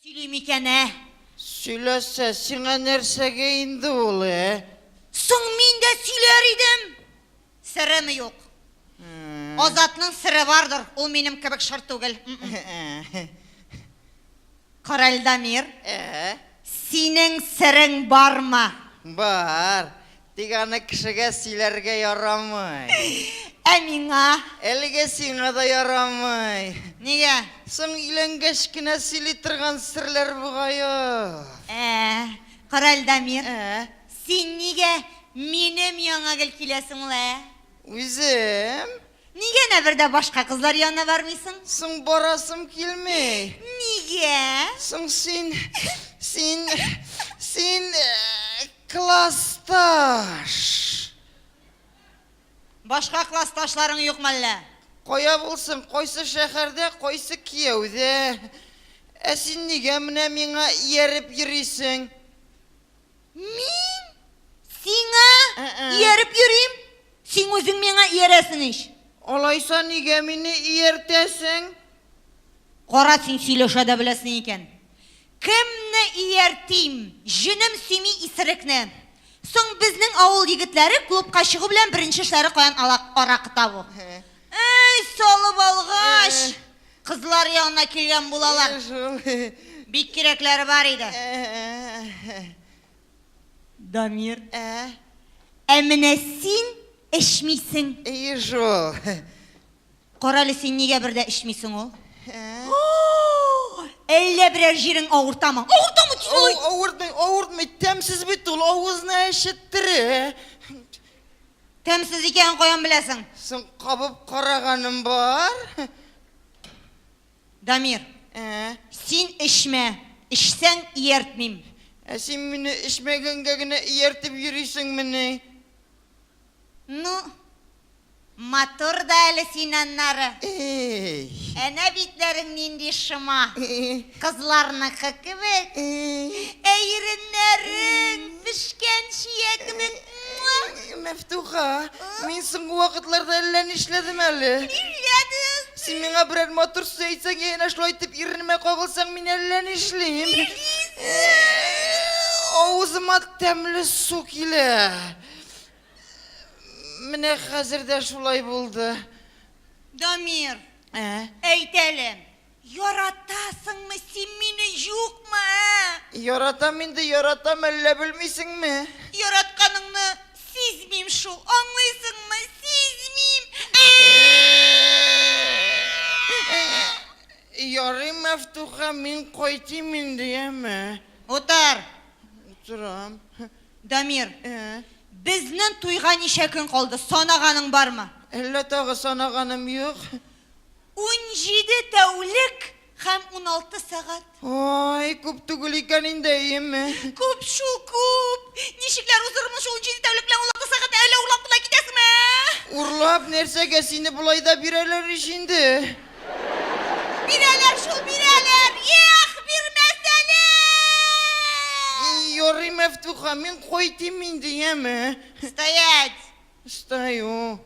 Сөйли микән, ә? Сөйләсә, сиңа нәрсәгә инде ул, ә? Соң мин дә сөйләр идем. Сыремы юк? Азатның сыре бардыр, ул минем кебек шыр түгел. Каральдамир, синең сырың бармы? Бар. Тик аны кешегә сөйләргә ярамый. Ә миңа? Әлегә сиңа да ярамый. Нигә? Соң өйләнгәч кенә сөйли торган серләр бугаю. Ә, карале, Дамир. Ә? Син нигә минем яңа гел киләсең ул, ә? Үзем? Нигә әнә бер дә башка кызлар янына бармыйсың? Соң барасым килми. Нигә? Соң син, син, син классташ. Башка классташларың юк мәллә? Кая булсын, кайсы шәһәрдә, кайсы кияүдә. Ә син нигә менә миңа ияреп йөрисең? Мин? Сиңа? Ияреп йөрим? Сиң үзең миңа иярәсең ич. Алайса нигә мине ияртәсең? Кара син сөйләшә дә беләсең икән. Кемне ияртим? Җенем сөйми исерекне. Соң безнең авыл егетләре клубка чыгу белән беренче эшләре каян ала аракы табу. Әй, салып алгач, кызлар янына килгән булалар. Бик кирәкләре бар иде. Дамир. Ә менә син эчмисең. Әйе шул. Карале, син нигә бер дә эчмисең ул? Әллә берәр җирең авыртамы? Авыртамы син алай? Авыртмый, авыртмый, тәмсез бит ул, авызны әчеттерә. Тәмсез икәнен каян беләсең? Соң кабып караганым бар. Дамир. Ә. Син эчмә. Эчсәң, ияртмим. Ә син мине эчмәгәнгә генә ияртеп йөрисеңмени? Ну, матур да әле син аннары. Эй. Әнә битләрең нинди шома. Кызларныкы кебек. Эй. Ә иреннәрең пешкән чия кебек Мәфтуха, мин соңгы вакытларда әллә нишләдем әле. Нишләдең? Син миңа берәр матур сүз әйтсәң, я әнә шулай итеп иренемә кагылсаң, мин әллә нишлим. Авызыма тәмле су килә. Менә хәзер дә шулай булды. Дамир, Ә? әйт әле. Яратасыңмы син мине, юкмы, ә? Яратам инде, яратам, әллә белмисеңме? Яратканыңны сизмим шул, аңлыйсыңмы, сизмим! Ярый, Мәфтуха, мин кайтыйм инде, яме? Утыр! Утырам. Дамир, безнен туйга ничә көн калды, санаганың бармы? Әллә тагы санаганым юк? Унҗиде тәүлек һәм уналты сәгать. Ай, күп түгел икән инде, әйеме? Күп шул, күп! Ничекләр уздырырмын шул унҗиде тәүлек белән уналты сәгатьне, әллә урлап кына китәсеңме, ә? Урлап нәрсәгә, сине болай да бирәләр ич инде. Бирәләр шул, бирәләр! Ех, бирмәс әле! Ярый, Мәфтуха, мин кайтыйм инде, яме? Стоять! Стою.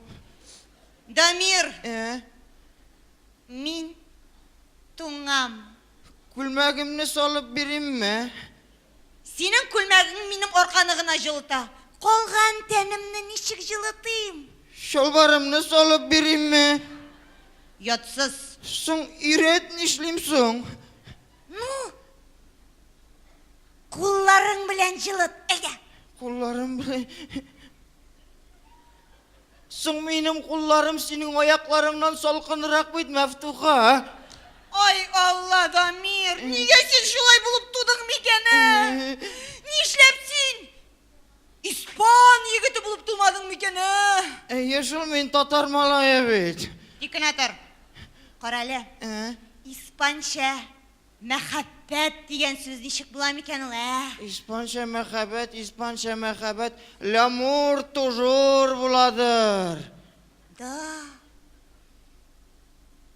Дамир! Ә? Мин туңам. Күлмәгемне салып биримме? Синең күлмәгең минем арканы гына җылыта. Калган тәнемне ничек җылытыйм? Чалбарымны салып биримме? Ятсыз. Соң өйрәт, нишлим соң? Ну, кулларың белән җылыт, әйдә. Кулларым белән. Соң минем кулларым синең аякларыңнан салкынрак бит, Мәфтуха, ә? Ай, Алла, Дамир, нигә син шулай булып тудың микән, ә? Нишләп син испан егете булып тумадың микән, ә? Әйе шул, мин татар малае бит. Тик кенә тор. Карале, испанча Мәхәббәт дигән сүз ничек була микән ул, ә? Испанча мәхәббәт, испанча мәхәббәт, лямур тужур буладыр. Да.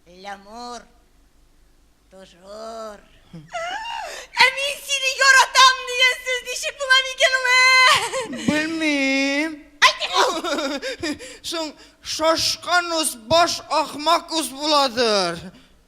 Лямур тужур. Ә мин сине яратам дигән сүз ничек була микән ул, ә? Белмим. Әйтик ул. Соң, шашканус баш ахмакус буладыр.